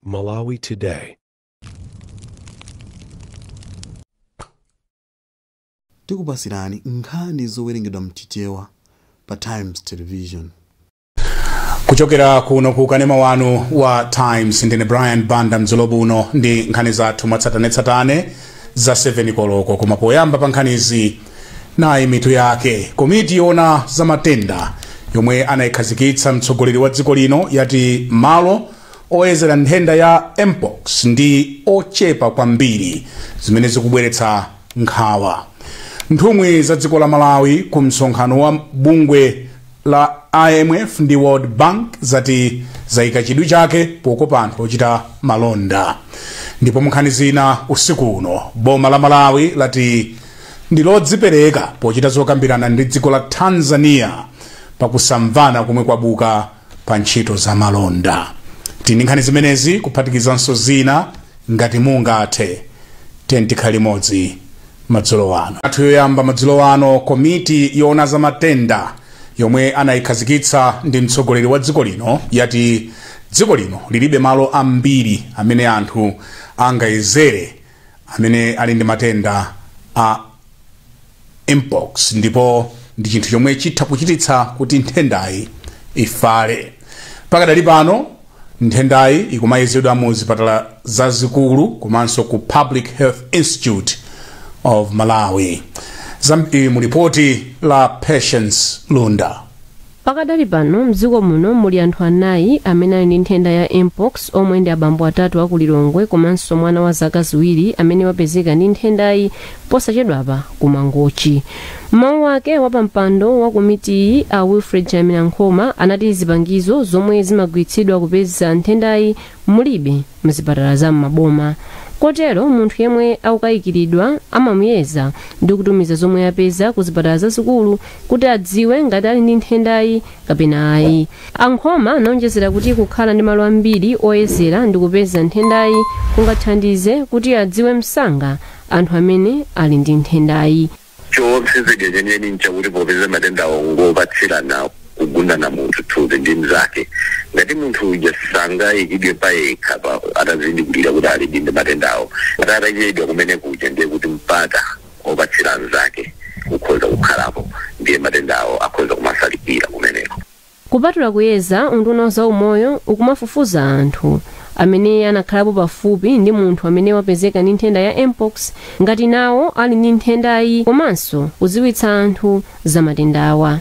Malawi Today. tikupasirani nkhani zowerengedwa mchichewa pa times television kuchokera kuno ku kanema wanu wa times ndine brian banda madzulo ano ndi nkhani zathu mwatsatanetsatane za 7 koloko koma poyamba pa nkhanizi nayi mitu yake komiti yoona za matenda yomwe anayikhazikitsa mtsogoleri wa dziko lino yati malo oyezera nthenda ya mpox ndi ochepa kwambiri zimene zikubweretsa nkhawa nthumwi za dziko la malawi ku msonkhano wa bungwe la IMF ndi World Bank zati zaika chidwi chake pokopa anthu ochita malonda. Ndipo munkhani zina usiku uno boma la Malawi lati ndi lodzipereka pochita zokambirana ndi dziko la Tanzania pakusamvana komwe kwabuka pa ntchito za malonda. Tili ndi nkhani zimenezi kuphatikizanso zina ngati mungathe tiyeni tikhale limodzi madzulo ano. athu yoyamba madzulo ano komiti yoona za matenda yomwe anayikhazikitsa ndi mtsogoleri wa dziko lino yati dziko lino lilibe malo ambiri amene anthu angayezere amene ali ndi matenda a mpox ndipo ndi chinthu chomwe chitha kuchititsa kuti nthendayi ifale pakadali pano Nthendayi ikumayezedwa mu zipatala zazikulu komanso ku Public Health Institute of Malawi. Zambiri mu lipoti la Patience Lunda. pakadali pano mdziko muno muli anthu anayi amene ali ndi nthenda ya mpox omwe ndi abambo atatu aku lilongwe komanso mwana wa zaka ziwiri amene wapezeka ndi nthendayi posachedwapa ku mangochi M'mawu ake wapampando wa komitiyi a Wilfred Chalamira Nkhoma anati zipangizo zomwe zimagwiritsidwa kupeza nthendayi mulibe mzipatala za m'maboma kotero munthu yemwe akukayikiridwa amamuyeza ndi kutumiza zomwe apeza ku zipatala zazikulu kuti adziwe ngati ali ndi nthendayi kapena ayi. A Nkhoma anaonjezera kuti kukhala ndi malo ambiri oyezera ndi kupeza nthendayi kungathandize kuti adziwe msanga anthu amene ali ndi nthendayi. Choopseza chake chenicheni nchakuti popeza matendawa ngopatsirana kugundana munthu thupi ndi mnzake, ngati munthu uja sangaikidwe payekhapo atazindikiridwa kuti alidi ndi matendawo, ngati atachedwa kumene kuja ndiye kuti mpata opatsira mnzake ukhoza kukhalapo ndiye matendawo akhoza kumafalikira kumeneko. Kupatula kuyeza, unduna wa zaumoyo ukumafufuza anthu amene anakhalapo pafupi ndi munthu amene wapezeka ndi nthenda ya MPOX ngati nawo ali ndi nthendayi komanso kudziwitsa anthu za matendawa.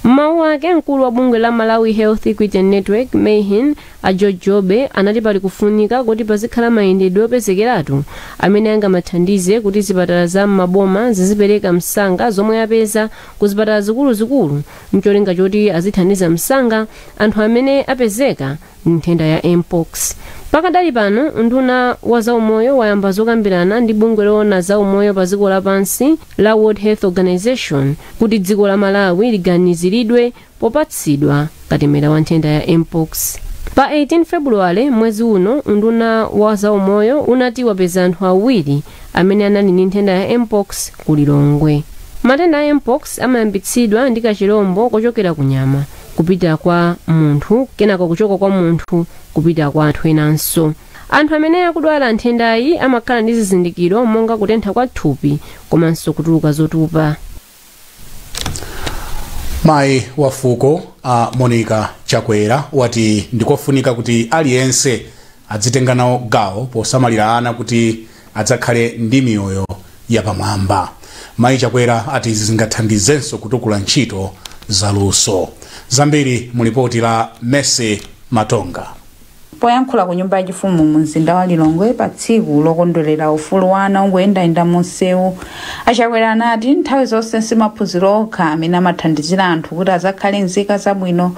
M'mawu ake, mkulu wa bungwe la Malawi Health Equity Network, MHEN, a George Jobe anati pali kufunika koti pazikhala mayendedwe opezekeratu amene angamathandize kuti zipatala za m'maboma zizipereka msanga zomwe apeza ku zipatala zikuluzikulu mcholinga choti azithandiza msanga anthu amene apezeka ndi nthenda ya mpox pakadali pano unduna wa zaumoyo wayamba zokambirana ndi bungwe loona zaumoyo pa dziko lapansi la world health organization kuti dziko la malawi liganiziridwe popatsidwa katemera wa nthenda ya mpox pa 18 februwale mwezi uno unduna wa zaumoyo unati wapeza anthu awiri amene anali ndi nthenda ya mpox ku lilongwe matenda a mpox amayambitsidwa ndi kachilombo kochokera ku nyama kupita kwa munthu kenako kuchoka kwa munthu kupita kwa anthu enanso anthu amene akudwala nthendayi amakhala ndi zizindikiro monga kutentha kwa thupi komanso kutuluka zotupa mayi wa fuko a monica chakwera wati ndikofunika kuti aliyense adzitenga nawo gawo posamalira ana kuti adzakhale ndi miyoyo yapamwamba mayi chakwera ati zingathandizenso kutukula ntchito zaluso zambiri mu lipoti la mercy matonga Poyankhula ku nyumba yachifumu mu mzinda wa Lilongwe pa tsiku lokondwelera ufulu wa ana ongoyendayenda mu msewu, a Chakwera anati nthawi zonse si maphunziro okha amene amathandizira anthu kuti azakhale nzika zabwino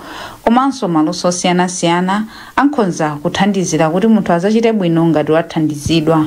komanso maluso osiyanasiyana ankhonza kuthandizira kuti munthu azachite bwino ngati wathandizidwa.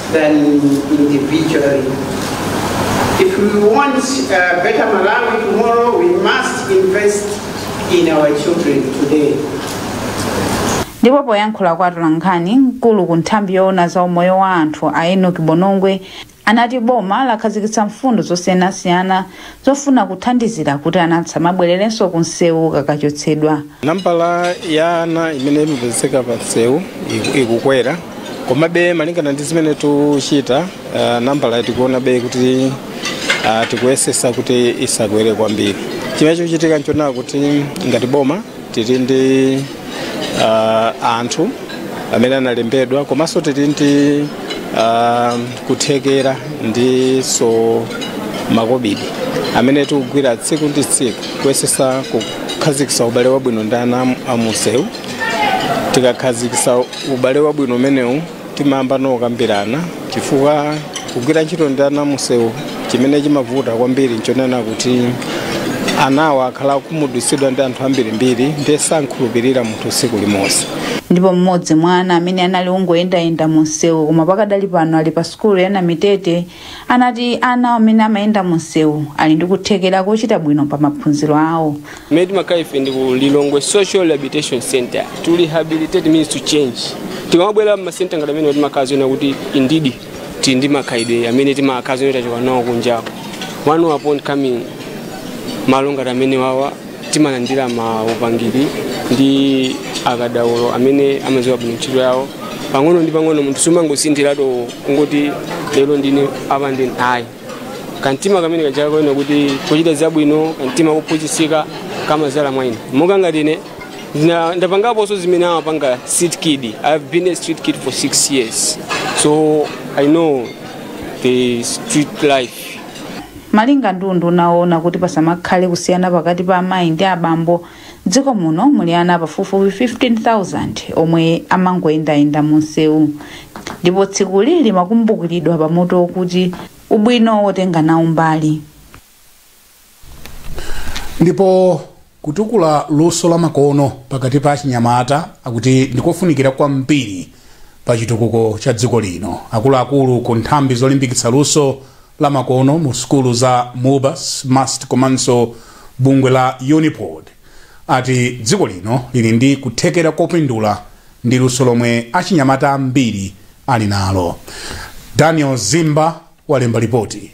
than individually. If we want a better Malawi tomorrow, we must invest in our children today. ndipo poyankhula kwa atolankhani mkulu ku nthambi yoona za umoyo wa anthu a enoki bonongwe anati boma lakhazikitsa mfundo zosiyanasiyana zofuna kuthandizira kuti ana asamabwererenso ku msewu kakachotsedwa. nambala ya ana imene imapezeka pa msewu ikukwera komabe malingana ndi zimene tikuchita uh, nambala tikuonabe kuti uh, tikuyesesa kuti isakwere kwambiri chimene chochitika nchonena kuti ngati boma tili ndi uh, anthu amene analembedwa komanso tili ndi uh, kuthekera ndinso makobidi amene tikugwira tsiku ndi tsiku kuyesesa kukhazikisa ubale wabwino ndi ana amunsewu tikakhazikisa ubale wabwino umenewo timayamba nokambirana chifukwa kugwira ntchito ndi ana amumsewu chimene chimavuta kwambiri nchonena kuti anawa akhala akukhumudwitsidwa ndi anthu ambirimbiri ndiye samkhulupirira munthu tsiku limodzi ndipo mmodzi mwa ana amene anali ongoyendayenda mu msewu koma pakadali pano ali pa sukulu ya namitete anati ana amene amayenda mumsewu ali ndi kuthekera kochita bwino pa maphunziro awo Kumene timakhala ife ndi ku Lilongwe Social Rehabilitation Center to rehabilitate means to change. Tikamabwera m'masenta ngati amenewa timakhala zoona kuti indeed tili ndi makhalidwe amene timakhala zoona tachoka nawo kunjako. Once upon coming malo ngati amene wawa timalandira maupangiri ndi akadaulo amene amadziwa bwino ntchito yawo pang'ono ndi pang'ono munthu sumangosinthiratu kungoti lero ndine apa ndine ayi kamtima kamene kachaka koyena kuti kuchita zabwino kamtima kophunzitsika kamadzala mwa ine monga ngati ine ndapangaponso zimene amapanga street kid i've been a street kid for six years so i know the street life Malinga ndi unduna oona kuti pasamakhale kusiyana pakati pa amayi ndi abambo, m'dziko muno muli ana pafupifupi 15,000 omwe amangoyendayenda mumsewu ndipo tsikuli limakumbukiridwa pa mutu wokuti Ubwino wotenga nawo mbali. Ndipo Kutukula luso lamakono pakati pa achinyamata akuti ndikofunikira kwambiri pa chitukuko cha dziko lino. Akuluakulu ku nthambi zolimbikitsa luso la makono mu sukulu za Mubas, MUST komanso bungwe la Unipod ati dziko lino lili ndi kuthekera kopindula ndi luso lomwe achinyamata ambiri ali nalo. Daniel Zimba walemba lipoti.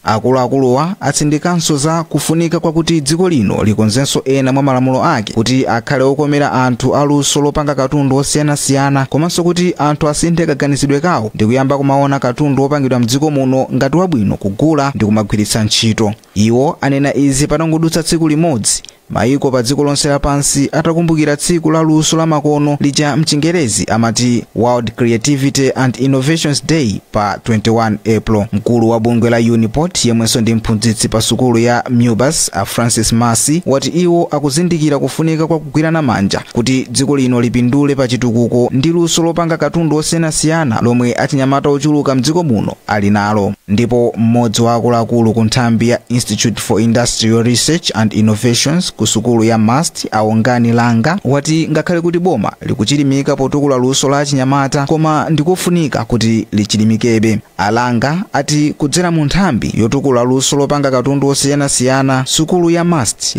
akuluakuluwa atsindikanso za kufunika kwakuti dziko lino likonzenso ena mwa malamulo ake kuti akhale okomera anthu aluso lopanga katundu osiyanasiyana komanso kuti anthu asinthe kaganizidwe kawo ndi kuyamba kumaona katundu wopangidwa mdziko muno ngati wabwino kugula ndi kumagwiritsa ntchito iwo anena izi patangodutsa tsiku limodzi Mayiko padziko lonse lapansi atakumbukira tsiku la luso lamakono lija m'Chingerezi amati World Creativity and Innovations Day pa 21 April, mkulu wa bungwe la Unipod yemwenso ndi mphunzitsi pa sukulu ya Mubas a Francis Masi wati iwo akuzindikira kufunika kwa kugwirana manja kuti dziko lino lipindule pa chitukuko ndi luso lopanga katundu osiyanasiyana lomwe achinyamata ochuluka m'dziko muno ali nalo. Ndipo mmodzi wa akuluakulu ku nthambi ya Institute for Industrial Research and Innovations ku sukulu ya MUST a Wongani Langa wati ngakhale kuti boma likuchilimika potukula luso la achinyamata koma ndikofunika kuti lichilimikebe. A Langa ati kudzera mu nthambi yotukula luso lopanga katundu osiyanasiyana, sukulu ya MUST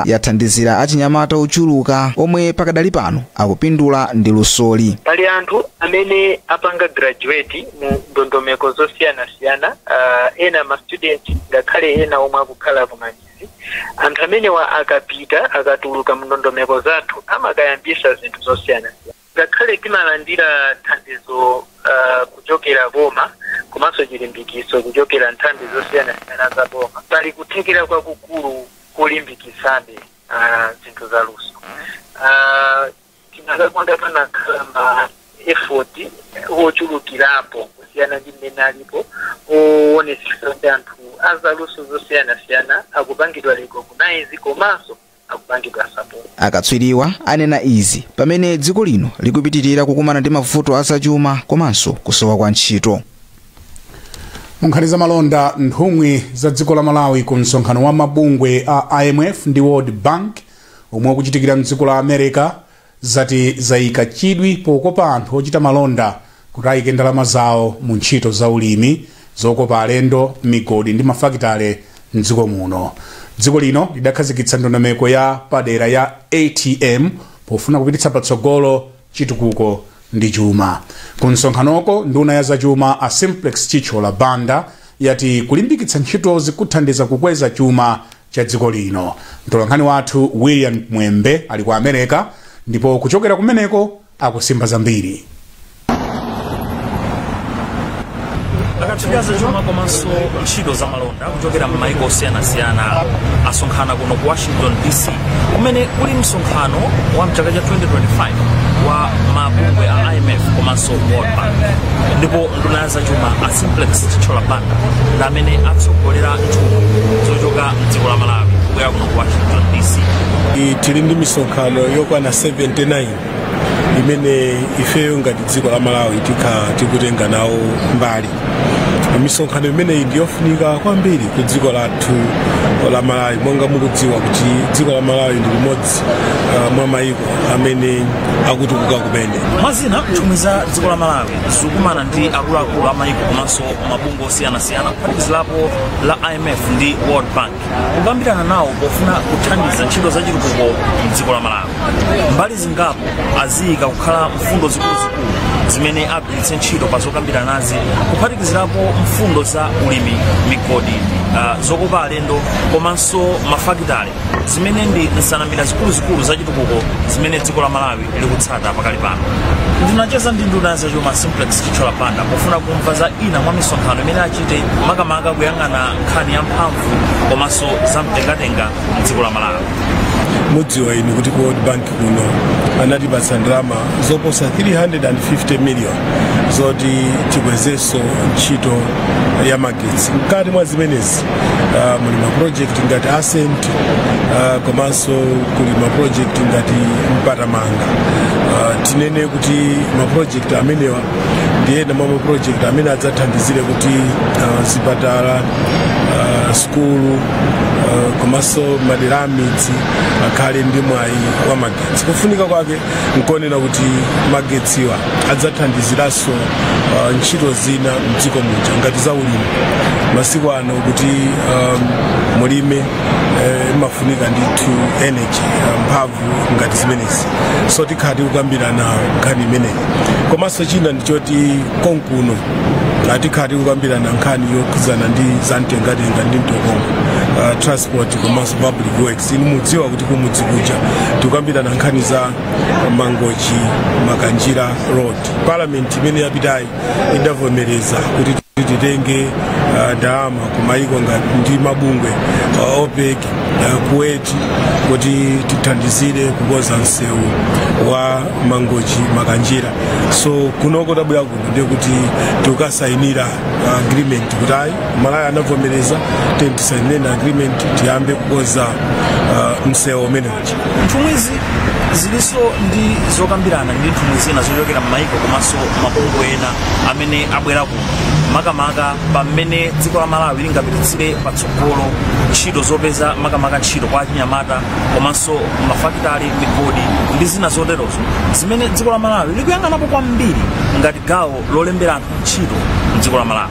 yathandizira achinyamata ochuluka omwe pakadali pano akupindula ndi lusoli. Pali anthu amene apanga graduate mu ndondomeko zosiyanasiyana uh, ena ma student ngakhale ena omwe akukhala ku communities anthu amenewa akapita akatuluka mu ndondomeko zathu amakayambisa zinthu zosiyanasiyana ngakhale timalandira thandizo uh, kuchokera boma komanso chilimbikiso kuchokera nthambi zosiyanasiyana za boma pali kuthekera kwakukulu kolimbikitsabe uh, zinthu za luso uh, Tinakakonda panakhala ma effort ochulukirapo kusiyana ndi mmene alipo oonetsetsa kuti anthu azaluso zosiyanasiyana akupangidwa recognize komanso akupangidwa support. Akatswiriwa anena izi pamene dziko lino likupitirira kukumana ndi mavuto a zachuma komanso kusowa kwa ntchito. munkhani za malonda nthumwi za dziko la malawi ku msonkhano wa mabungwe a imf ndi world bank omwe ukuchitikira mdziko la America zati zaika chidwi pokopa anthu ochita malonda kuti aike ndalama zawo mu ntchito za ulimi zokopa alendo migodi ndi mafakitale mdziko muno dziko lino lidakhazikitsa ndondomeko ya padera ya atm pofuna kupititsa patsogolo chitukuko ndi chuma ku msonkhanoko nduna ya zachuma a simplex Chithyola banda yati kulimbikitsa ntchitozi kuthandiza kukweza chuma cha dziko lino. Mtolankhani wathu William Mwembe ali ku America ndipo kuchokera kumeneko akusimba zambiri. akatswiri azachuma komanso ntchito za malonda kuchokera m'maiko osiyanasiyana asonkhana kuno ku washington dc kumene kuli msonkhano wa mchaka cha 2025 wa mabungwe a imf komanso world bank ndipo nduna zachuma a simplex Chithyola banda ndi amene atsogolera nthumwi zochoka mdziko la malawi kubwera kuno ku washington dc I- tili ndi misonkhano yokwana 79 imene ifeyo ngati dziko la malawi tikha tikutenga nawo mbali misonkhano imeneyi ndiyofunika kwambiri ku dziko lathu la malawi monga mukudziwa kuti dziko la malawi ndi limodzi uh, mwa mayiko amene akutukuka kumene mwa zina nthumwi za dziko la malawi zikukumana ndi akuluakulu amayiko komanso mabungwe osiyanasiyana kuphatikizirapo la imf ndi world bank kukambirana nawo pofuna kuthandiza ntchito za chitukuko mdziko la malawi mbali zingapo aziyika kukhala mfundo zikuluzikulu zimene agwiritse ntchito pa zokambiranazi kuphatikizirapo mfundo za ulimi migodi uh, zokopa alendo komanso mafakitale zimene ndi nsanamira zikuluzikulu za chitukuko zimene dziko la malawi likutsata pakali pano ndinacheza ndi nduna ya zachuma simplex chithyola banda pofuna kumva za ina mwa misonkhano imene achite makamaka kuyang'ana nkhani ya mphamvu komanso za mtengatenga mdziko la malawi mudziwa inu kuti ku world bank kuno anatipatsa ndalama zoposa 350 million zoti tikwezenso ntchito ya magetsi mkati mwa zimenezi uh, muli ma project ngati ascent uh, komanso kuli ma project ngati mpatamanga uh, tinene kuti ma project amenewa ndi ena mwa ma project amene adzathandizire kuti uh, zipatala uh, skulu uh, komanso madera amidzi akhale ndi mwayi wa magetsi kufunika kwake nkonena kuti magetsiwa adzathandiziranso uh, ntchito zina mdziko muja ngati za ulimi masiku ano kuti um, mulime eh, imafunika ndithu energy uh, mphamvu ngati zimenezi so tikhala tikukambirana nkhani imeneyi komanso china ndichoti konkuno tikhala tikukambirana nkhani yokhudzana ndi zamtengatenga ndi mtokoma uh, transport komanso public works inu mudziwa kuti kumudzi kuja tikukambirana nkhani za mangochi makanjira road parliament imene yapitayi idavomereza kuti titenge uh, ndalama kumayiko ngati ndi mabungwe uh, opec uh, kuwait kuti tithandizire kukonza msewu wa mangochi makanjira so kunoko tabwera kuno ndikuti tikukasayinira uh, agreement kuti ayi malawi anavomereza tisainire agreement tiyambe kukonza uh, msewu umenewu nthumwizi zilinso ndi zokambirana ndi nthumwi zina zochokera m'mayiko komanso mabungwe ena amene abwera kuno makamaka pa mmene dziko la malawi lingapititsire patsogolo ntchito zopeza makamaka ntchito kwa achinyamata komanso mafakitali migodi ndi zina zoterozo zimene dziko la malawi likuyang'anapo kwambiri ngati gawo lolembera anthu ntchito mdziko la malawi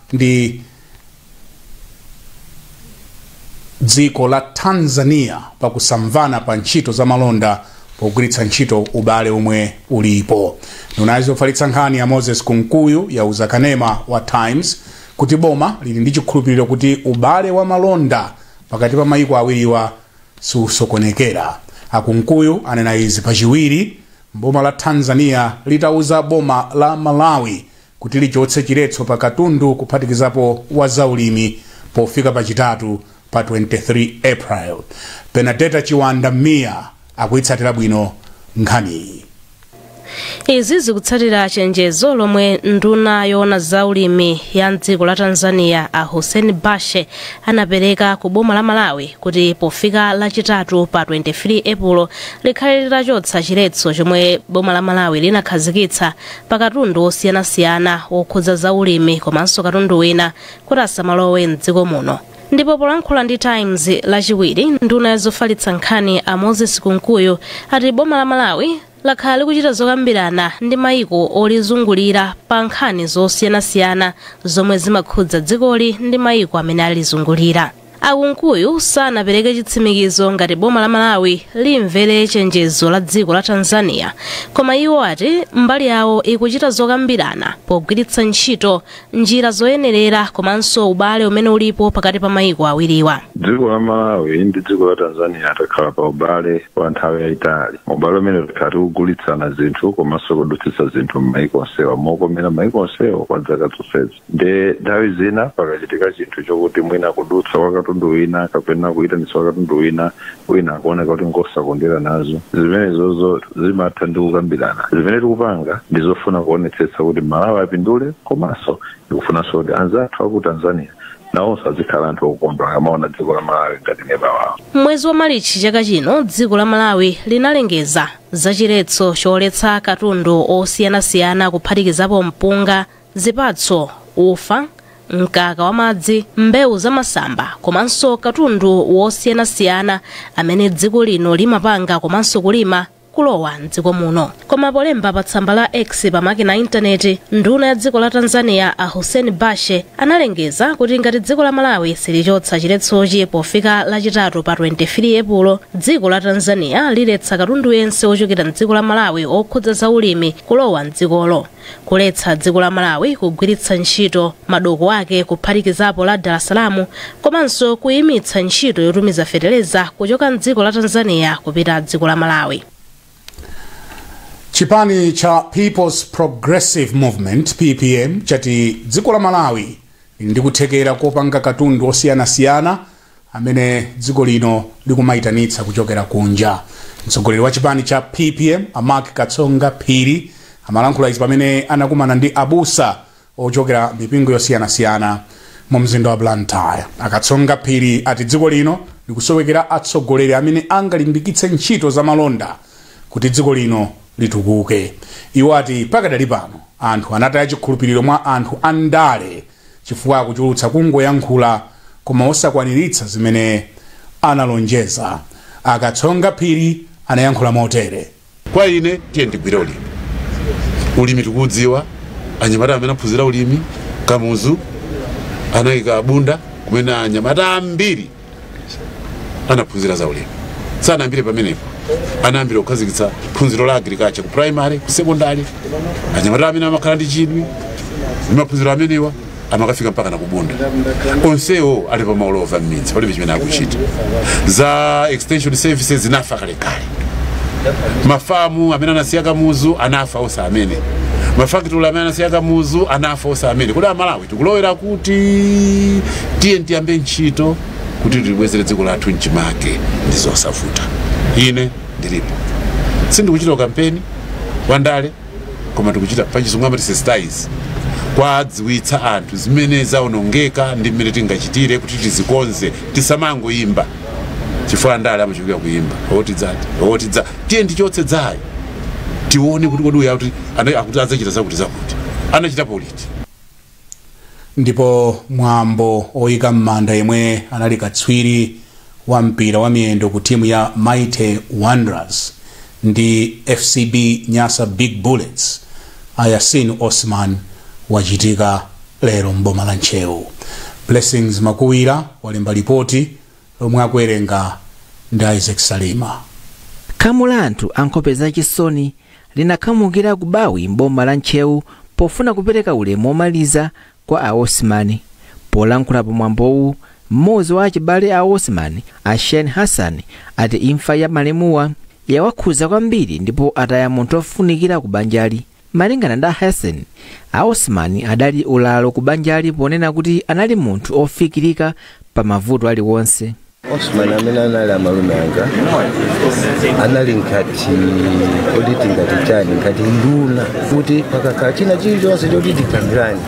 ndi dziko la tanzania pakusamvana pa ntchito za malonda pogwiritsa ntchito ubale omwe ulipo nduna yofalitsa nkhani a moses kunkuyu yauza kanema wa times kuti boma lili ndi chikhulupiriro kuti ubale wa malonda pakati pa mayiko awiriwa siusokonekera a kunkuyu anena izi pachiwiri boma la tanzania litauza boma la malawi kuti lichotse chiletso pa katundu kuphatikizapo wa zaulimi pofika pa chitatu pa 23 April. Benadetta Chiwanda Mia akuitsatira bwino nkhaniyi. izi zikutsatira chenjezo lomwe nduna yoona za ulimi ya mdziko la tanzania a hussein bashe anapereka ku boma la malawi kuti pofika lachitatu pa 23 epulo likhale litachotsa chiletso chomwe boma la malawi linakhazikitsa pa katundu wosiyanasiyana wokhudza za ulimi komanso katundu wina kuti asamalowe mdziko muno ndipo polankhula ndi times lachiwiri nduna ya zofalitsa nkhani a moses kunkuyu ati boma la malawi lakhala likuchita zokambirana ndi mayiko olizungulira pa nkhani zosiyanasiyana zomwe zimakhudza dzikoli ndi mayiko amene alizungulira A Kunkuyu sanapereke chitsimikizo ngati boma la Malawi limvere chenjezo la dziko la Tanzania, koma iwo ati mbali yawo ikuchita zokambirana pogwiritsa ntchito njira zoyenerera komanso ubale umene ulipo pakati pa mayiko awiriwa. dziko la malawi ndi dziko la tanzania takhala pa ubale wa nthawi yayitali ubale umene takhala tikugulitsana zinthu komanso kudutsitsa zinthu m'mayiko onsewa mokomera mayiko onsewa kwa zaka zonsezi Nde nthawi zina pakachitika chinthu chokuti mwina kudutsa kwa katundu wina kapena kuyitanitsa kwa katundu wina wina akuoneka kuti ngosakondwera nazo zimenezozo zimatha ndi kukambirana zimene tikupanga ndi zofuna kuonetsetsa kuti malawi apindule komanso tikufunanso kuti anzathu aku tanzania nawonso azikhala anthu okondwa akamaona dziko la malawi ngati neba wawo M'mwezi wa Malichi chaka chino dziko la Malawi linalengeza za chiletso choletsa katundu osiyanasiyana kuphatikizapo mpunga, zipatso, ufa, mkaka wamadzi, mbewu zamasamba komanso katundu wosiyanasiyana amene dziko lino limapanga komanso kulima kulowa mdziko muno koma polemba pa tsamba la x pa makina a intaneti nduna ya dziko la tanzania a hussein bashe analengeza kuti ngati dziko la malawi silichotsa chiletsochi pofika lachitatu pa 23 epulo dziko la tanzania liletsa katundu yense wochokera mdziko la malawi okhudza za ulimi kulowa mdzikolo kuletsa dziko la malawi kugwiritsa ntchito madoko ake kuphatikizapo la dar es salaam komanso kuyimitsa ntchito yotumiza fetereza kuchoka mdziko la tanzania kupita dziko la malawi chipani cha peoples progressive movement ppm chati dziko la malawi lili ndi kuthekera kopanga katundu osiyanasiyana amene dziko lino likumayitanitsa kuchokera kunja. Mtsogoleri wa chipani cha PPM a Mark Katsonga Phiri amalankhula izi pamene anakumana ndi abusa ochokera mipingo yosiyanasiyana mu mzinda wa Blantyre. A Katsonga Phiri ati dziko lino likusowekera atsogoleri amene angalimbikitse ntchito za malonda kuti dziko lino litukuke. Iwo ati pakadali pano anthu anataya chikhulupiriro mwa anthu andale chifukwa akuchulutsa kungoyankhula koma osakwaniritsa zimene analonjeza. A Katsonga Phiri anayankhula motere. Kwa ine tiyeni tigwire ulimi. Ulimi tikudziwa, anyamata amene aphunzira ulimi, Kamuzu anaika Bunda kumene anyamata ambiri. anaphunzira za ulimi sanayambire pamenepo anayambira kukhazikitsa phunziro la agriculture ku primary ku secondary anyamata amene amakhala ndi chidwi ndi maphunziro amenewa amakafika mpaka na kubunda onsewo ali pa ulova m'midzi palibe chimene akuchita za extension services zinafa kalekale mafamu amene anasiya kamuzu anafa onse amene mafakitale amene anasiya kamuzu anafa onse amene kodi amalawi tikulowera kuti tiye tiyambe ntchito kuti tilibwezere dziko lathu mchimake ndi zosavuta ine ndilipo sindikuchita kampeni wa ndale koma tikuchita pachizungu amati sensitize kuwadziwitsa anthu zimene zaonongeka ndi mmene tingachitire kuti tizikonze tisamangoyimba chifukwa ndale amachulukira kuyimba oti tidza tidza tiye tichotse tidzayo tione kuti kodi uyu akuti ana- akuti adzachita zakuti zakuti anachitapo liti ndipo mwambo oyika m'manda yemwe anali katswiri wa mpira wa miyendo ku timu ya Mighty Wanderers ndi FCB Nyasa Big Bullets a Yasin Osman wachitika lero m'boma la Ntcheu. Blessings Makuwira walemba lipoti lomwe akuwerenga ndi Isaac Salima. Khamu la anthu a nkhope zachisoni linakhamukira ku Bawi m'boma la Ntcheu pofuna kupereka ulemu womaliza kwa a Osman. Polankhula pa mwambowu, mmodzi wa achibale a Osman, a Shen Hassan, ati imfa ya malemuwa yawakhudza kwambiri ndipo ataya munthu ofunikira ku banjali. Malingana ndi a Hassan, a Osman adali ulalo ku banjali ponena kuti anali munthu ofikirika pa mavuto aliwonse. Osman amene anali amalume anga anali ngati kuti tingati chani ngati nduna kuti pakakhala china chilichonse choti tikambirane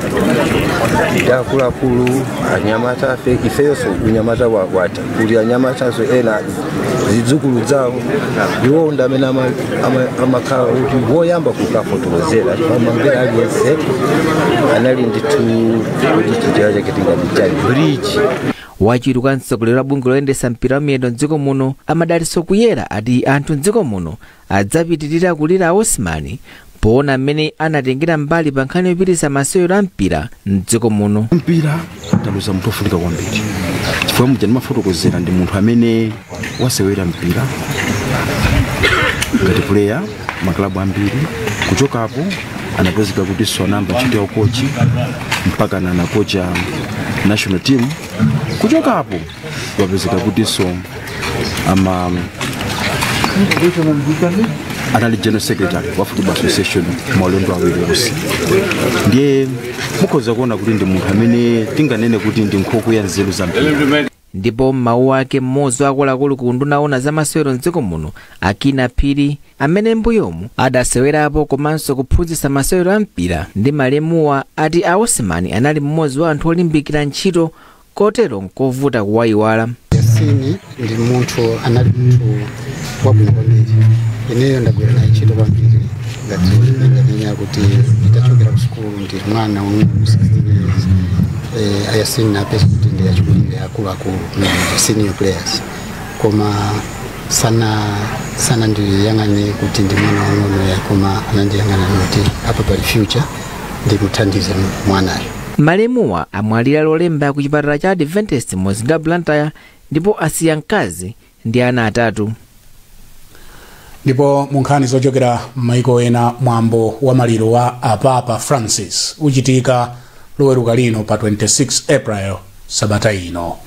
ndi akuluakulu anyamatafe ifeyonso unyamata wakwatha kuli anyamatanso ena zidzukulu zawo iwo ndi amene ama- ama- amakhala kuti woyamba kukafotokozera kwa membala aliyense anali ndithu kuti njira yake tingati ya bridge wachiwiri kwa mtsogoleri wa bungwe loona zoyendetsa mpira wa miyendo mdziko muno a Madalitso Kuyera ati anthu mdziko muno adzapitiriza kulira Osman poona mmene anatengera mbali pa nkhani yopititsa masewero a mpira mdziko muno mpira taluza munthu ofunika kwambiri chifukwa muja ndimafotokozera ndi munthu amene wasewera mpira ngati puleya maklabu ambiri kuchokapo anapezeka kutinso anayamba ntchito ya ukochi mpakana anakocha national team kuchokapo wapezeka kutinso ama anali general secretary wa football association maulendo awiri onse ndiye mukhoza kuona kuti ndi munthu amene tinganene kuti ndi nkhokwe ya nzeru za mpira ndipo m'mawu ake mmodzi wa akuluakulu ku unduna woona zamasewero mdziko muno a Kinnah Phiri amene mbuyomu adasewerapo komanso kuphunzitsa masewero a mpira ndi malemuwa ati a Osman anali mmodzi wa anthu olimbikira ntchito kotero nkovuta kuwayiwala yasini ndi munthu anali munthu wabwino kwambiri ineyo ndagwira naye ntchito kwambiri ngati ndinganena kuti nditachokera ku sukulu ndili mwana wang'ono 16 years eh, a Yasini napeza kuti ndi achikulire akuluakulu ndi senior players koma sana sana ndiyang'ane kuti ndi mwana wang'ono ya koma anandiyang'ana kuti apa pali future ndimuthandize mwanayo malemuwa amwalira lolemba ku chipatala cha adventist mu mzinda wa blantyre ndipo asiya mkazi ndi ana atatu ndipo mu nkhani zochokera m'maiko ena mwambo wa maliro wa a papa francis uchitika loweruka lino pa 26 april sabata ino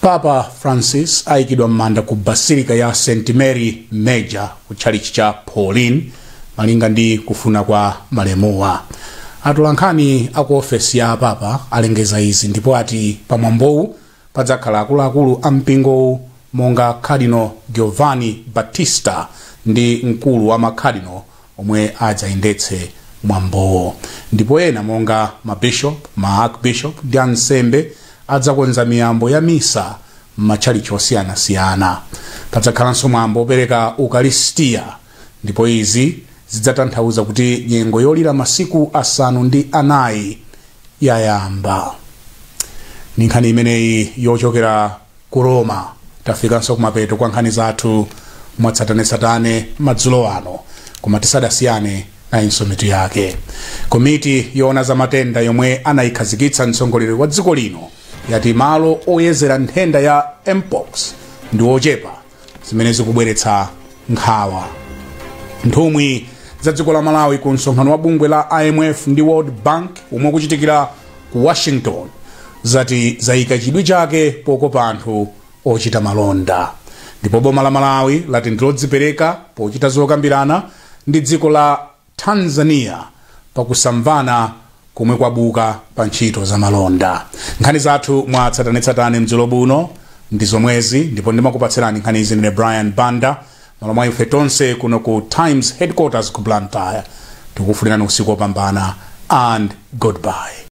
papa francis ayikidwa m'manda ku basilika ya st mary major ku tchalitchi cha pauline Malinga ndi kufuna kwa malemuwa, atolankhani a ku ofesi ya a Papa alengeza izi ndipo ati pa mwambowu padzakhala akuluakulu a mpingowu monga Cardinal Giovanni Battista ndi mkulu wa ma Cardinal omwe adzayendetse mwambowo ndipo ena monga ma Bishop, ma Archbishop ndi ansembe adzakonza miyambo ya misa m'matchalitchi osiyanasiyana. Padzakhalanso mwambo opereka Ukaristiya. ndipo izi zidzatanthauza kuti nyengo yolira masiku asanu ndi anayi yayamba ndi nkhani imeneyi yochokera ku roma tafikanso kumapeto kwa nkhani zathu mwatsatanetsatane madzulo ano koma tisadasiyane nayinso mitu yake komiti yoona za matenda yomwe anayikhazikitsa mtsogoleri wa dziko lino yati malo oyezera nthenda ya mpox ndi ochepa zimene zikubweretsa nkhawa nthumwi za dziko la malawi ku msonkhano wa bungwe la imf ndi world bank omwe ukuchitikira ku washington zati zayika chidwi chake pokopa anthu ochita malonda ndipo boma la malawi lati ndilodzipereka pochita zokambirana ndi dziko la Tanzania pa kusamvana komwe kwabuka pa ntchito za malonda. Nkhani zathu mwa tsatanetsatane madzulo ano ndi zomwezi ndipo ndimakupatsirani nkhanizi ndine Brian Banda m'malo mwa ife tonse kuno ku Times Headquarters ku Blantyre. Tikufunirani usiku wopambana and goodbye.